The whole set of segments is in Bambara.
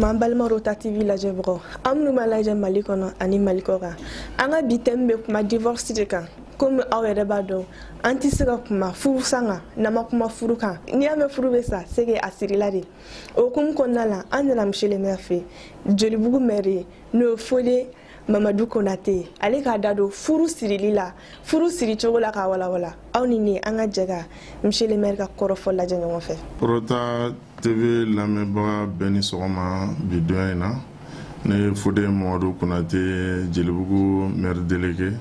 an balimaw kɔrɔta tv lajɛbagaw aw minnu b'an lajɛ mali kɔnɔ ani mali kɔ kan an ka bi tɛmu bɛ kuma divorce de kan komi aw yɛrɛ b'a dɔn an tɛ se ka kuma furusa kan n'an ma kuma furu kan n'i y'a mɛn furu bɛ sa c'est que a sirila de o hukumu kɔnɔna la an nana monsieur le maire fɛ jelibugu mɛri n'o ye fode mamadu konate ale k'a da don furu sirili la furu siri cogo la k'a walawala aw ni ne an ka jɛ ka monsieur le maire ka kɔrɔfɔ lajɛ ɲɔgɔn fɛ kɔrɔta tv lamɛnbaga bɛɛ ni sɔgɔma bi don in na ne ye fode mamadu konate jelibugu maire délégué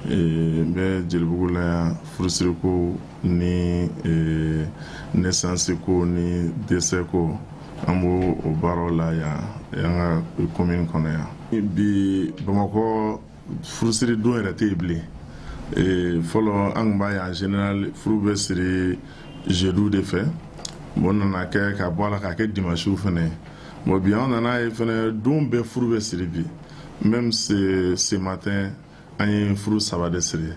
n bɛ jelibugu la yan furusiriko ni nesansiko ni desɛko an b'o baaraw la yan an ka komin kɔnɔ yan bi bamakɔ furusiri don yɛrɛ tɛ yen bilen eh, fɔlɔ an kun b'a ye en général furu bɛ siri jeudi de fɛ bon nana kɛ ka bɔ a la k'a kɛ dimasiw fɛnɛ ye bon bi an nana a ye fɛnɛ don bɛɛ furu bɛ siri bi même ce matin an ye furu saba de siri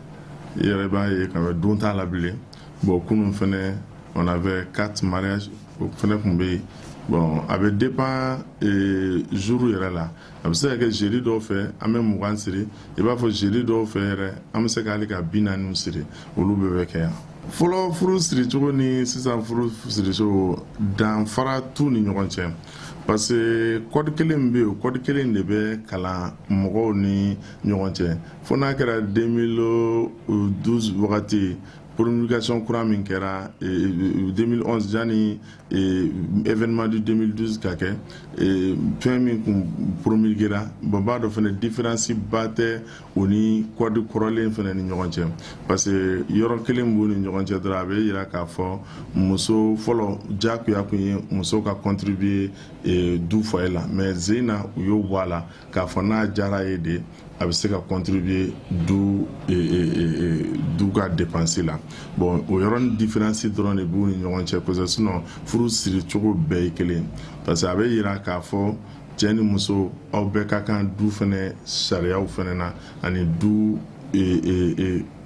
i yɛrɛ b'a ye k'a fɔ don t'a la bilen bon kunun fɛnɛ on avait quatre mariage o fɛnɛ kun bɛ yen bon a bɛ dépend euh, jour yɛrɛ la a bɛ se ka kɛ jeudi dɔw fɛ an bɛ mugan siri i b'a fɔ jeudi dɔw fɛ yɛrɛ an bɛ se ka hali ka bi naaniw siri olu bɛɛ bɛ kɛ yan fɔlɔ furu siricogo ni sisan furu siricogo danfara t'u ni ɲɔgɔn cɛ parce que kɔdi kelen bɛ yen kɔdi kelen de bɛ kalan mɔgɔw ni ɲɔgɔn cɛ fo n'a kɛra 2012 waati promulgation kura min kɛra 2011 jani événement du 2012 ka kɛ fɛn min kun promulguera bon b'a dɔn fɛnɛ différence ba tɛ o ni kɔdi kɔrɔlen fɛnɛ ni ɲɔgɔn cɛ parce que yɔrɔ kelen b'u ni ɲɔgɔn cɛ dɔrɔn a bɛ yira k'a fɔ muso fɔlɔ jakuya kun ye muso ka contribuer du foyer la mais sen in na u y'o bɔ a la k'a fɔ n'a diyara a ye de a bɛ se ka contribuer du e, e, e, du ka dépense la bon o yɔrɔnin différence dɔrɔn de b'u ni ɲɔgɔn cɛ kosɛbɛ sinon furu siri cogo bɛɛ ye kelen parce que a bɛ yira k'a fɔ cɛ ni muso aw bɛɛ ka kan du fɛnɛ sariyaw fɛnɛ na ani du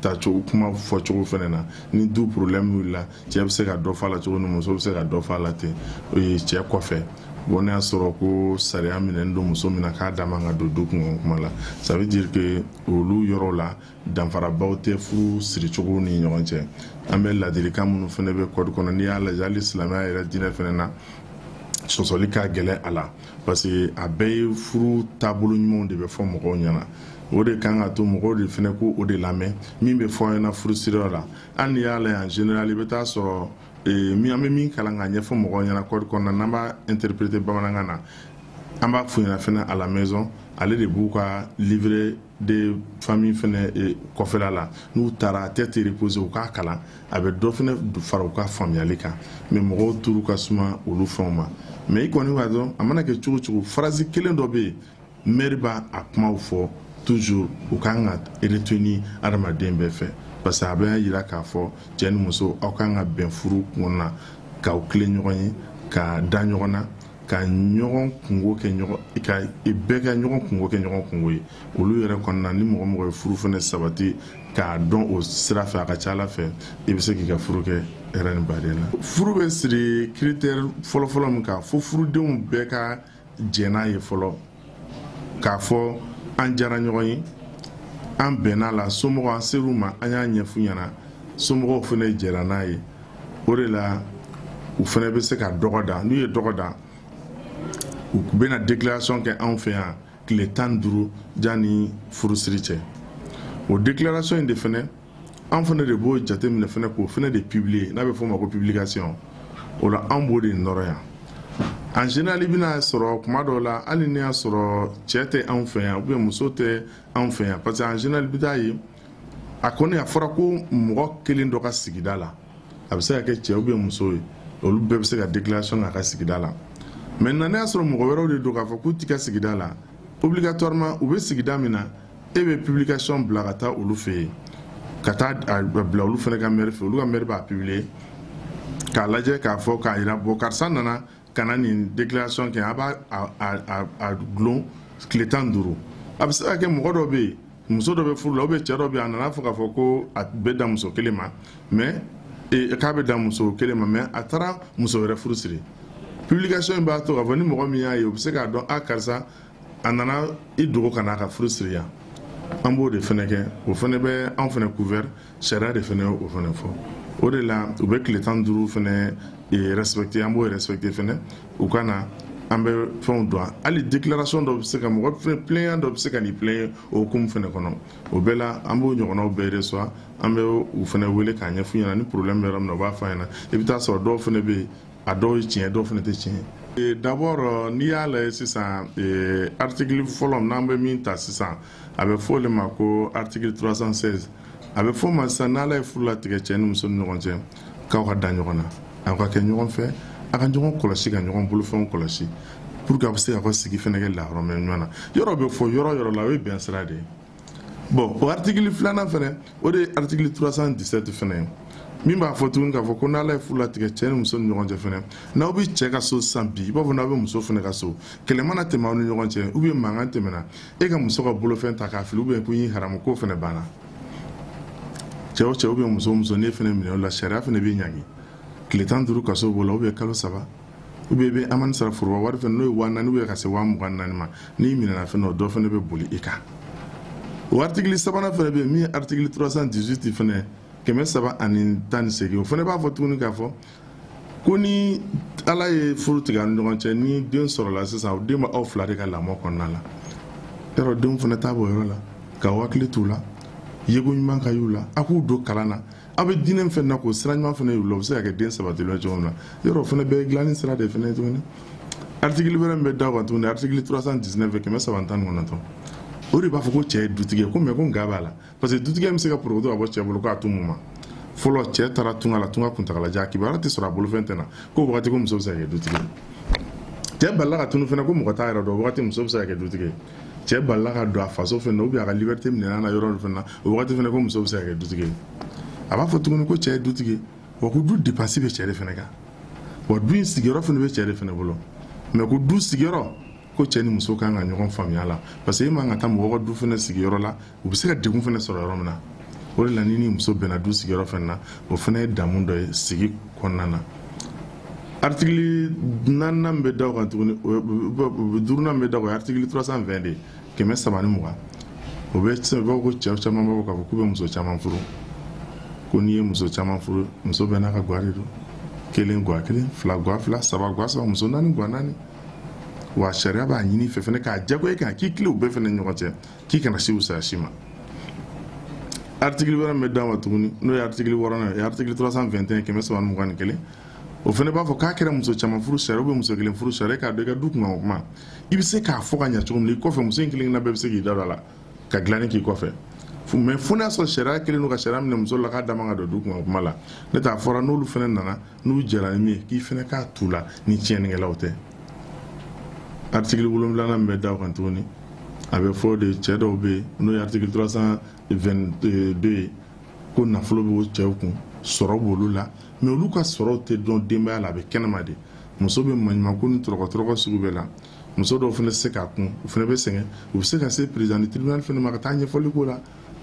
tacogo kuma fɔcogo fɛnɛ na ni du problèmew la cɛ be se ka dɔ f'a la cogo min muso be se ka dɔ f'a la ten cɛ kɔfɛ bon n'i y'a sɔrɔ ko sariya minɛni don muso min na k'a da man ka don du kunko kuma la ça veut dire que olu yɔrɔ la danfarabaw tɛ furu siricogo ni ɲɔgɔn cɛ an bɛ ladilikan minnu fana bɛ kɔdi kɔnɔ n'i y'a lajɛ hali silamɛya yɛrɛ diinɛ fana na sɔsɔli ka gɛlɛ a la parce que a bɛɛ ye furu taabolo ɲumanw de bɛ fɔ mɔgɔw ɲɛna o de kan ka to mɔgɔw de fana k'o de lamɛn min bɛ fɔ an ɲɛna furusiriyɔrɔ la an n'i y'a lajɛ en général i bɛ taa sɔrɔ eh, min an bɛ min kalan k'a ɲɛfɔ mɔgɔw ɲɛna kɔdi kɔnɔna n'an b'a interpréter bamanankan na an b'a f'u ɲɛna fɛnɛ à la maison ale de b'u ka livret de famille fɛnɛ eh, kɔfɛla la n'u taara à tête reposée u k'a kalan a bɛ dɔ fɛnɛ fara u ka faamuyali kan mais mɔgɔw turu ka suma olu fɛnw ma mais i kɔni b'a dɔn a mana kɛ cogo cogo phrase kelen dɔ bɛ yen mɛri b'a a kumaw fɔ toujours u ka kan ka retenu adamaden bɛɛ fɛ parce que a bɛ jira k'a fɔ cɛ ni muso aw ka kan ka bɛn furu kun na k'aw tilen ɲɔgɔn ye ka da ɲɔgɔn na ka ɲɔgɔn kunko kɛ ɲɔgɔn ka bɛɛ ka ɲɔgɔn kunko kɛ ɲɔgɔn kunko ye olu yɛrɛ kɔnɔna ni mɔgɔ mɔgɔ ye furu fana sabati ka don o sira fɛ a ka ca a la fɛ i bɛ se k'i ka furu kɛ hɛrɛ ni badenya la furu bɛ siri critère fɔlɔfɔlɔ min kan fo furudenw bɛɛ ka jɛn n'a ye fɔlɔ k'a fɔ an diyara ɲɔgɔn ye an bɛnna a la somɔgɔw an ser'u ma an y'a ɲɛf'u ɲɛna somɔgɔw fana jɛnna n'a ye o de la u fana bɛ se ka dɔgɔda n'u ye dɔgɔda u bɛna déclaration kɛ anw fɛ yan tile tan ni duuru janni furusiri cɛ o déclaration in de fana an fana de b'o jateminɛ fana k'o fana de publier n'a bɛ f'o ma ko publication o la an b'o de nɔrɔ yan en général i bɛna sɔrɔ tuma dɔw la hali n'i y'a sɔrɔ cɛ tɛ anw fɛ yan ou bien muso tɛ anw fɛ yan parce que en général i bɛ taa ye a kɔni a fɔra ko mɔgɔ kelen dɔ ka sigida la a bɛ se ka kɛ cɛ ou bien muso ye olu bɛɛ bɛ se ka déclaration k'a ka sigida la maintenant n'a y'a sɔrɔ mɔgɔ wɛrɛw de don k'a fɔ k'u t'i ka sigida la obligatoirement u bɛ sigida min na e bɛ publication bila ka taa olu fɛ yen ka taa a bila olu fana ka mɛri fɛ olu ka mɛri b'a publier k'a lajɛ k'a fɔ k'a jira bon karisa nana ka na nin déclaration kɛ a b'a a dulon tile tan ni duuru a bɛ se ka kɛ mɔgɔ dɔ bɛ yen muso dɔ bɛ furu la ou bien cɛ dɔ bɛ yen a nana a fɔ k'a fɔ ko a bɛ dan muso kelen ma mais e, k'a bɛ dan muso kelen ma mais a taara muso wɛrɛ furu siri publication in b'a to k'a fɔ ni mɔgɔ min y'a ye o bɛ se k'a dɔn a karisa a nana i dogo ka n'a ka furu siri yan an b'o de fana kɛ o fana bɛ an fana couvert sariya de fana o fana fɔ o de la u bɛ tile tan duuru fana eh, respecté an b'o respecté fana u ka na an bɛ fɛnw dɔn hali déclaration dɔ bɛ se ka mɔgɔ fɛn plaignant dɔ bɛ se ka nin plaigner o hukumu fana kɔnɔ o bɛɛ la an b'o ɲɔgɔnnaw bɛɛ reçoit an bɛ u fana wele k'a ɲɛf'u ɲɛna ni problème bɛ yɔrɔ min na u b'a fɔ an ɲɛna i bɛ t'a sɔrɔ dɔw fana bɛ yen a dɔw ye tiɲɛ dɔw fana tɛ tiɲɛ ye d'abord n'i y'a lajɛ sisan article fɔlɔ n'an bɛ min ta sisan a bɛ fɔ o de ma ko article 316 a bɛ fɔ o ma sisan n'ala ye furu latigɛ cɛ ni muso ni ɲɔgɔn cɛ k'aw ka da ɲɔgɔn na aw ka kɛ ɲɔgɔn fɛ a ka ɲɔgɔn kɔlɔsi ka ɲɔgɔn bolofɛnw kɔlɔsi pour que a bɛ se ka sigi fana kɛ lahɔrɔmɛ ɲɔgɔn na yɔrɔ bɛ fɔ yɔrɔ yɔrɔ la o ye bɛn sira de ye bon o artikili filanan fɛnɛ o de ye artikili 317 fɛnɛ ye min b'a fɔ tuguni k'a fɔ ko n'ala ye furu latigɛ cɛɛ ni muso ni ɲɔgɔn cɛ fɛnɛ n'aw be cɛɛ ka so sisan bi i b'a fɔ n'aw be muso fɛnɛ ka so kɛlɛ mana tɛmɛ aw ni ɲɔgɔn cɛ ubiyɛn mankan tɛmɛna e ka muso ka bolofɛn ta k'a fili ubiyɛn ko n y'i haramu k'o fɛnɛ banna cɛɛ o cɛɛ ubiyɛn muso o muso n'e fɛnɛ minɛna o la sariya fɛnɛ b'i ɲangi tile tan duuru kaso b'o la ubiyɛn kalo saba u bɛ bɛ amani sara foroba wari fɛ n'o ye waa naani bɛ ka se waa mugan naani ma n'i minɛna fɛn dɔ dɔ fana bɛ boli i kan o aritiki sabanan fana bɛ yen min ye aritiki 318 fana kɛmɛ saba ani tan ni seegin o fana b'a fɔ tuguni k'a fɔ ko ni ala ye furu latigɛ ni ɲɔgɔn cɛ ni den sɔrɔla sisan o den bɛ aw fila de ka lamɔ kɔnɔna la yɔrɔ denw fana t'a bɔ yɔrɔ la ka hakili t'u la yeko ɲuman ka y'u la a k'u don kalan na aw bɛ diinɛ min fana na k'o sira ɲuman fana yir'u la o bɛ se ka kɛ den sabatilen cogo min na yɔrɔ o fana bɛɛ ye dilanni sira de fana ye tuguni artikili wɛrɛ min bɛ da o kan tuguni artikili 319 kɛmɛ saba ni tan ni kɔnɔntɔn o de b'a fɔ ko cɛ ye dutigi ye ko mais ko nka b'a la parce que dutigiya bɛ se ka porokoto ka bɔ cɛ bolo k'a to mun ma fɔlɔ cɛ taara tunga la tunga kuntagalajan a kibaruya tɛ sɔrɔ a bolofɛn tɛ na k'o wagati ko muso bɛ se ka kɛ dutigi ye cɛ balila ka tunun fana ko mɔgɔ t'a yɔrɔ dɔn o wagati muso bɛ se ka kɛ dutigi ye cɛ balila ka don a faso fɛnɛ ubiyɛn a ka libɛrite minɛn'a na yɔrɔ dɔ fɛnɛ na o wagati fɛnɛ ko muso be se ka kɛ dutigi ye a b'a fɔ tuguni ko cɛɛ ye dutigi wa ko du depansi be cɛɛ de fɛnɛ kan wa du in sigiyɔrɔ fɛnɛ be cɛɛ de fɛnɛ bolo mais ko du sigiyɔrɔ ko cɛɛ ni muso kan ka ɲɔgɔn faamuya la parce que e man kan ka taa mɔgɔ ka du fɛnɛ sigi yɔrɔ la u bɛ se ka degun fana sɔrɔ yɔrɔ min na o de la n'i ni muso bɛnna du sigiyɔrɔ fana na o fana ye daamu dɔ ye sigi kɔnɔna na artikili naaninan bɛ da o kan tuguni duurunan bɛ da o kan artikili 320 de kɛmɛ saba ni mugan o de b'a fɔ ko cɛ caman b'a fɔ k'a fɔ k'u bɛ muso caman furu ko n'i ye muso caman furu muso bɛɛ n'a ka gwa de don kelen gwa kelen fila gwa fila saba gwa saba muso naani gwa naani wa sariya b'a ɲini i fɛ fɛnɛ k'a jagoya i kan k'i tilen u bɛɛ fɛnɛ ɲɔgɔn cɛ k'i kana se wusaya si ma artikili wɛrɛ min bɛ d'a ma tuguni n'o ye artikili wɔɔrɔnan ye artikili 321 kɛmɛ saba ni mugan ni kelen o fana b'a fɔ k'a kɛra muso caman furu sariya ubiyɛn muso kelen furu sariya k'a dɔn i ka du kunkanko kuma i bɛ se k'a fɔ ka ɲa cogo min na i kɔfɛ muso in kelen-kelenna bɛɛ bɛ se k'i da don a la ka dilanni k'i kɔfɛ mɛ fo n'a sɔrɔ sariya kelen don ka sariya minɛ muso la k'a da man ka don du kunkanko kuma la n'o t'a fɔra n'olu fana nana n'u jɛra ni min ye k'i fana k'a t'u la ni tiɲɛnikɛlaw tɛ article wolonwulanan min bɛ da o kan tuguni a b'a fɔ de cɛ dɔw bɛ yen n'o ye article 322 ye ko nafolo bɛ o cɛw kun sɔrɔ b'olu la mɛ olu ka sɔrɔw tɛ don denbaya la a bɛ kɛnɛma de muso bɛ maɲumanko ni tɔrɔkɔtɔrɔkɔ sugu bɛɛ la muso dɔw fana tɛ se k'a kun u fana bɛ sɛgɛn u bɛ se ka se président du tribunal fana ma ka taa ɲɛfɔli k'o la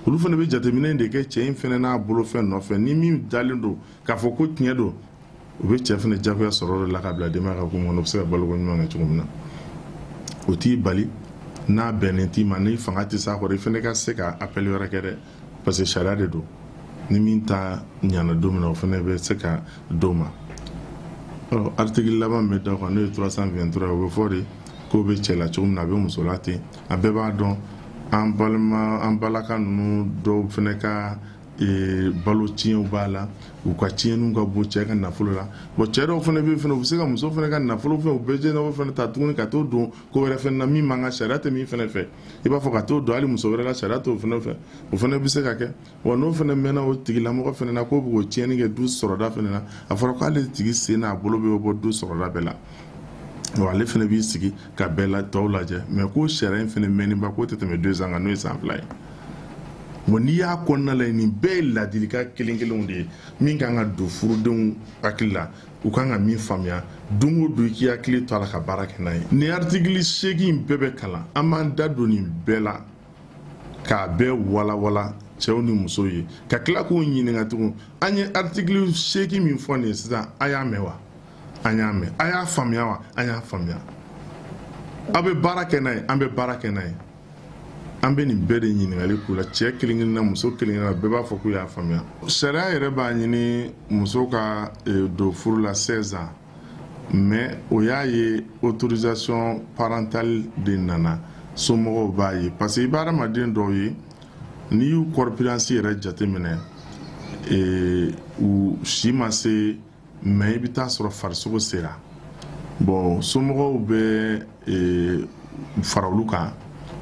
olu fana bɛ jateminɛ de kɛ cɛ in fana n'a bolofɛn nɔfɛ ni min dalen don k'a fɔ ko tiɲɛ don u bɛ cɛ fana jagoya sɔrɔ de la ka bila denbaya ka kun kɔnɔ u bɛ se ka baloko ɲuman kɛ cogo min na o t'i bali n'a bɛnnen t'i ma n'i fanga tɛ s'a kɔrɔ i fana ka se ka appel wɛrɛ kɛ dɛ parce que sariya de don ni min ta ɲana don min na o fana bɛ se ka d'o ma ɔ article laban bɛ da o kan n'o ye 323 ye o b'a fɔ de k'o bɛ cɛ la cogo min na a bɛ muso la ten an bɛɛ b'a dɔn an balima an balaka ninnu dɔw fana ka ee, balo tiɲɛw b'a la u ka tiɲɛni ka bon cɛ ka nafolo la bɔn cɛ dɔw fana bɛ fana u bɛ se ka muso fana ka nafolo fɛ u bɛɛ jɛnɛw fana ta tuguni ka t'o don ko wɛrɛ fana na min man kan sariya tɛ min fana fɛ i b'a fɔ ka t'o don hali muso wɛrɛ la sariya t'o fana fɛ o fana bɛ se ka kɛ wa n'o fana mɛnna o tigilamɔgɔ fana na k'o bɛ k'o tiɲɛni kɛ du sɔrɔda fana na a fɔra k'ale tigi sen n'a bolo bɛ bɔ du sɔrɔda bɛɛ la wa ale fana b'i sigi ka bɛɛ la tɔw lajɛ mɛ ko sariya in fana mɛnniba k'o tɛ tɛmɛ deux ans kan n'o ye san fila ye wa n'i y'a kɔnɔna lajɛ nin bɛɛ ye ladilikan kelen kelenw de ye min kan ka don furudenw hakili la u kan ka min faamuya don o don i k'i hakili to a la ka baara kɛ n'a ye nin artikili seegin bɛɛ bɛ kalan an b'an da don nin bɛɛ la k'a bɛɛ walawala cɛw ni musow ye ka tila k'u ɲininka tugun an ye artikili seegin min fɔ nin ye sisan a y'a mɛn wa an y'a mɛn a y'a faamuya wa an y'a faamuya aw bɛ baara kɛ n'a ye an bɛ baara kɛ n'a ye an bɛ nin bɛɛ de ɲininkali k'u la cɛ kelen-kelenna muso kelen-kelenna bɛɛ b'a fɔ k'u y'a faamuya sariya yɛrɛ b'a ɲini muso ka eh, don furu la 16 ans mais o y'a ye autorisation parentale de nana somɔgɔw b'a ye parce que i bɛ hadamaden dɔw ye n'i y'u corpulence yɛrɛ jateminɛ eh, u si ma se mais i bɛ taa sɔrɔ farisogo sera bon somɔgɔw bɛ e, fara olu kan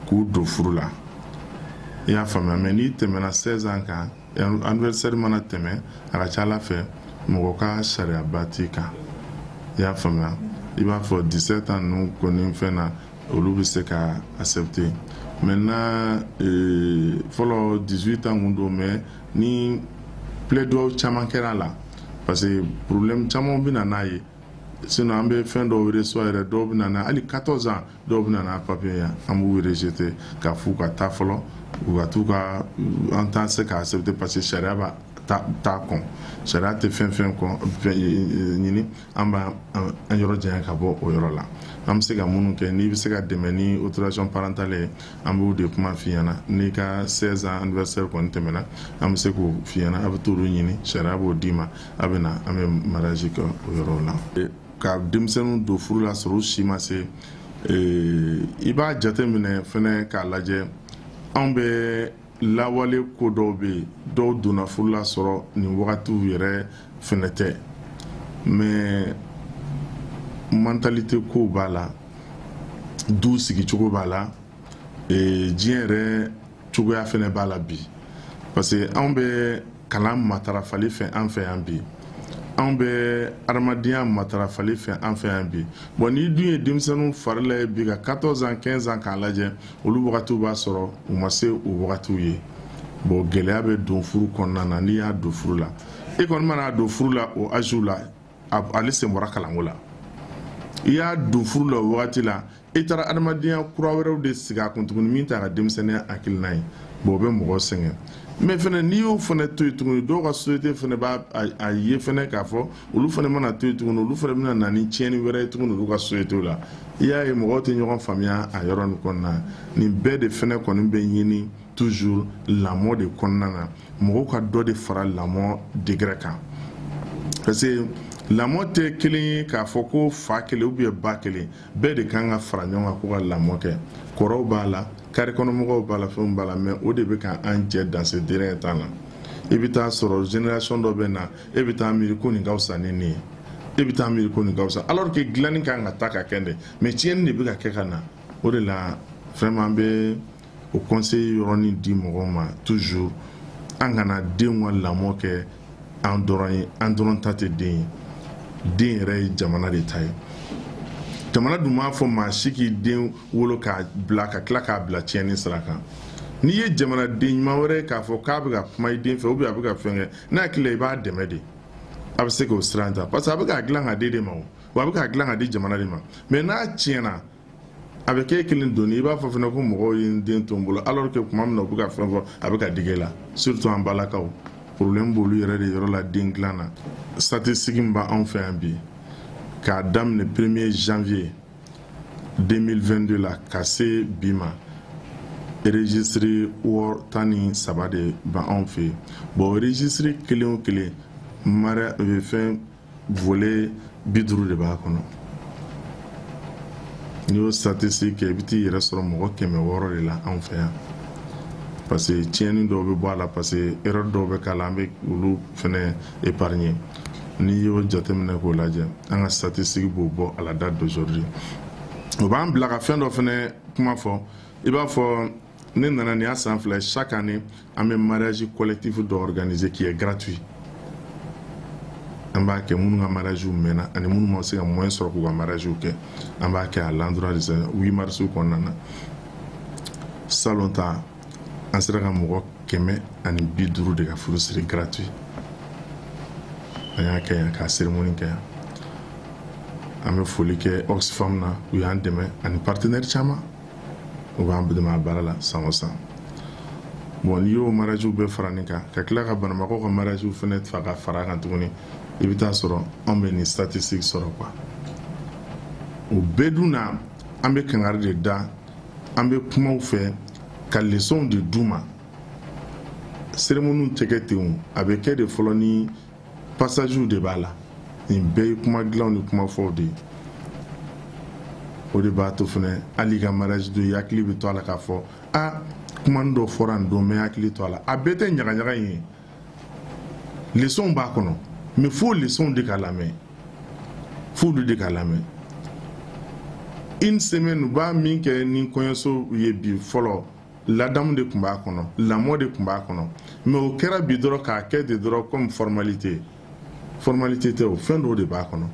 k'u don furu la i y'a faamuya mais n'i tɛmɛna 16 ans kan anniversaire mana tɛmɛ a ka c'a la fɛ mɔgɔ ka sariyaba t'i kan i y'a faamuya i b'a fɔ 17 ans ninnu kɔni fɛn na olu bɛ se ka accepter maintenant euh, fɔlɔ 18 ans kun don mais ni plaidoyer caman kɛra a la parce que problème caman bɛ na n'a ye sinon an bɛ fɛn dɔw reçoit yɛrɛ dɔw bɛ na n'a hali 14 ans dɔw bɛ na n'a papier ye an b'u rejeter k'a f'u ka taa fɔlɔ u ka t'u ka an tɛna se k'a accepter parce que sariya b'a ta ta kɔn sariya tɛ fɛn fɛn kɔni ɲini an b'an yɔrɔ janya ka bɔ o yɔrɔ la an bɛ se ka minnu kɛ n'i bɛ se ka dɛmɛ ni autorisation parentale ye an b'o de kuma f'i ɲɛna n'i ka 16 ans anniversaire kɔni tɛmɛna an bɛ se k'o f'i ɲɛna a bɛ t'olu ɲini sariya b'o d'i ma a bɛ na an bɛ mariage kɛ o yɔrɔ la ka denmisɛnninw don furu la sɔrɔ u si ma se i b'a jateminɛ fɛnɛ k'a lajɛ anw bɛ lawale ko dɔw bɛ yen dɔw donna furu la sɔrɔ nin wagatiw yɛrɛ fɛnɛ tɛ mais mentalité ko b'a la du sigicogo b'a la diɲɛ yɛrɛ cogoya fɛnɛ b'a la bi parce que anw bɛ kalan matarafali fɛ an fɛ yan bi anw bɛ adamadenya matarafali fɛ an fɛ yan bi bon n'i dun ye denmisɛnninw fari la ye bi ka 14 ans 15 ans k'a lajɛ olu wagatiw b'a sɔrɔ u ma se o wagatiw ye bon gɛlɛya bɛ don furu kɔnɔna na n'i y'a don furu la e kɔni man'a don furu la o âge la ale sen bɔra kalanko la i y'a don furu la o wagati la i taara adamadenya kura wɛrɛw de sigi a kun tuguni min t'a ka denmisɛnninya hakilina ye bon o bɛ mɔgɔ sɛgɛn mais fɛnɛ n'i y'o fɛnɛ to yen tuguni dɔw ka société fɛnɛ b'a ye fɛnɛ k'a fɔ olu fɛnɛ mana to yen tuguni olu fɛnɛ bɛna na ni tiɲɛni wɛrɛ ye tuguni olu ka société la i y'a ye mɔgɔw tɛ ɲɔgɔn faamuya a yɔrɔ nin kɔnɔna nin bɛɛ de fɛnɛ kɔni bɛ ɲini toujours lamɔ de kɔnɔna na mɔgɔw ka dɔ de fara lamɔ degré kan parce que lamɔ tɛ kelen ye k'a fɔ ko fa kelen ou bien ba kelen bɛɛ de kan ka fara ɲɔgɔn kan ko ka lamɔ kɛ kɔrɔw b'a la carré kɔnɔmɔgɔw b'a la fɛnw b'a la mais o de bɛ ka an jɛ dans ces derniers temps na i bɛ taa sɔrɔ génération dɔ bɛ na e bɛ taa miiri ko nin ka fisa ni nin ye e bɛ taa miiri ko nin ka fisa alors que dilanni kan ka taa ka kɛ de mais tiɲɛni de bɛ ka kɛ ka na o de la vraiment an bɛ o conseil yɔrɔnin di mɔgɔw ma toujours an kana denw ka lamɔ kɛ an dɔrɔn ye an dɔrɔn ta tɛ den ye den yɛrɛ ye jamana de ta ye jamana dun m'a fɔ maa si k'i den wolo k'a bila ka tila k'a bila tiɲɛni sira kan n'i ye jamanaden ɲuman wɛrɛ ye k'a fɔ k'a bɛ ka kuma i den fɛ ou bien a bɛ ka fɛn kɛ n'a hakili la i b'a dɛmɛ de a bɛ se k'o sira ta parce que a bɛ k'a dilan k'a d'i de ma o wa a bɛ k'a dilan ka di jamana de ma mais n'a tiɲɛna a bɛ k'e kelen doni i b'a fɔ fana ko mɔgɔw ye n den to n bolo alors que tuma min na u bɛ ka fɛn fɔ a bɛ ka digi e la surtout an balakaw problème b'olu yɛrɛ de yɔrɔ la den dilan na statistique min b'anw fɛ yan bi k'a daminɛ premier janvier 2022 la ka se bi ma registre wɔɔrɔ tan ni saba de b'anw fɛ yen bon registre kelen o kelen mariage fɛn volet bi duuru de b'a kɔnɔ n'i y'o statistique kɛ i bɛ t'i yɛrɛ sɔrɔ mɔgɔ kɛmɛ wɔɔrɔ de la anw fɛ yan parce que tiɲɛni dɔw bɛ bɔ a la parce que erreur dɔw bɛ k'a la an bɛ olu fɛnɛ épargner n'i y'o jateminɛ k'o lajɛ an ka statistique b'o bɔ à la date d'aujourd'hui o b'an bila ka fɛn dɔ fɛnɛ kuma fɔ i b'a fɔ ne nana nin y'a san fila ye chaque année an bɛ mariage collectif dɔ organiser qui est gratuit an b'a kɛ minnu ka mariage mɛnna ani minnu ma se ka moyen sɔrɔ k'u ka mariage kɛ an b'a kɛ à l'endroit de ça 8 mars kɔnɔna na salon ta an sera ka mɔgɔ kɛmɛ ani bi duuru de ka furusiri gratuit an y'a kɛ yan k'a cérémonie kɛ yan an bɛ foli kɛ oxfam na u y'an dɛmɛ ani partenaire caman u b'an dɛmɛ a baara la san o san bon n'i y'o mariagew bɛɛ fara nin kan ka tila ka banabagatɔ ka mariagew fana fa ka fara kan tuguni i bɛ t'a sɔrɔ anw bɛ nin statistique sɔrɔ quoi o bɛɛ dun na an bɛ kangari de da an bɛ kumaw fɔ ka lesɔnw de d'u ma seremoniw tɛ kɛ ten o a bɛ kɛ de fɔlɔ ni passagew de b'a la nin bɛɛ ye kuma dilanw ni kuma fɔw de ye o de b'a to fana hali i ka mariage don i hakili bɛ to a la k'a fɔ a kuma dɔ fɔra nin don n bɛ hakili to a la a bɛɛ tɛ ɲagaɲaga in ye lesɔnw b'a kɔnɔ mais fo lesɔnw de ka lamɛn f'olu de ka lamɛn une semaine u b'a min kɛ ni kɔɲɔso ye bi fɔlɔ ladamu de tun b'a kɔnɔ lamɔ de tun b'a kɔnɔ mais o kɛra bi dɔrɔn k'a kɛ de dɔrɔn comme formalité formalité tɛ o fɛn dɔw de b'a kɔnɔ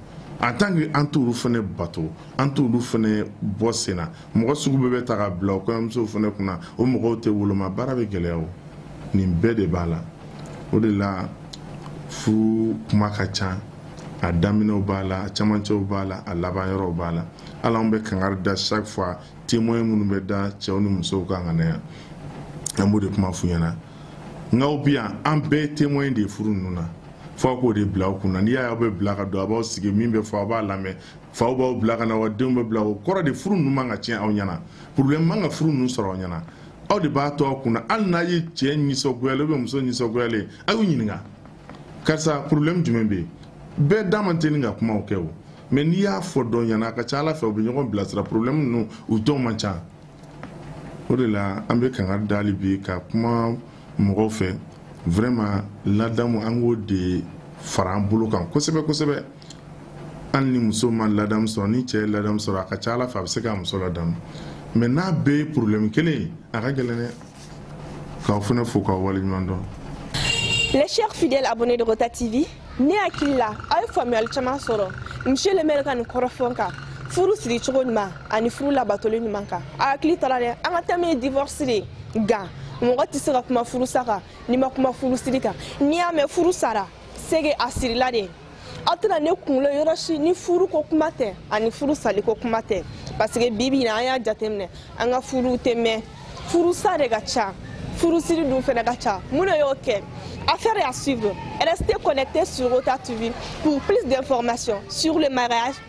en tant que an t'olu fana bato an t'olu fana bɔ sen na mɔgɔ sugu bɛɛ bɛ ta ka bila o kɔɲɔmusow fana kunna o mɔgɔw tɛ woloma baara bɛ gɛlɛya o nin bɛɛ de b'a la o de la furu kuma ka ca a daminɛw b'a la a camancɛw b'a la a laban yɔrɔw b'a la hali anw bɛ kangari da chaque fois témoin minnu bɛ da cɛw ni musow kan ka na yan an b'o de kuma f'u ɲɛna k'aw bi yan an bɛɛ témoin de ye furu ninnu na fo a k'o de bila aw kun na n'i y'a ye aw bɛ bila ka don a b'aw sigi min bɛ fɔ a b'a lamɛn faw b'aw bila ka na wa denw bɛ bila o kɔrɔ de furu ninnu man ka tiɲɛ aw ɲɛna problème man ka furu ninnu sɔrɔ aw ɲɛna aw de b'a to aw kun na hali n'a ye cɛ nisɔngoyalen ou bien muso nisɔngoyalen a y'u ɲininka karisa problème jumɛn bɛ yen bɛɛ da man teli ka kumaw kɛ mais n'i y'a fɔ dɔ ɲɛna a ka ca a la fɛ u bɛ ɲɔgɔn bilasira problème ninnu u dɔw man ca o de la an bɛ kangari da hali bi ka kuma mɔgɔw fɛ vraiment ladamu an k'o de fara an bolo kan kosɛbɛ kosɛbɛ hali ni muso ma ladamu sɔrɔ ni cɛ ye ladamu sɔrɔ a ka ca a la fɛ a bɛ se k'a muso ladamu mais n'a bɛɛ ye problème kelen ye a ka gɛlɛn dɛ k'aw fana fo k'aw waleɲuman dɔn Les chers fidèles abonnés de Rota TV, ne hakili la aw ye faamuyali caman sɔrɔ monsieur le maire ka nin kɔrɔfɔ kan furu siri cogo ɲuman ani furu labatoli ɲuman kan a hakili to a la dɛ an ka thème ye divorce de nka mɔgɔ tɛ se ka kuma furusa kan n'i ma kuma furusiri kan n'i y'a mɛn furu sara c'est que a sirila de aw tɛna ne kunkolo ye yɔrɔ si ni furu ko kuma tɛ ani furu sali ko kuma tɛ parce que bi bi na an y'a jateminɛ an ka furuw tɛ mɛn furusa de ka ca furusiri dun fɛnɛ ka ca mun de y'o kɛ affaire à suivre restez connectés sur rota tv pour plus d'informations sur le mariage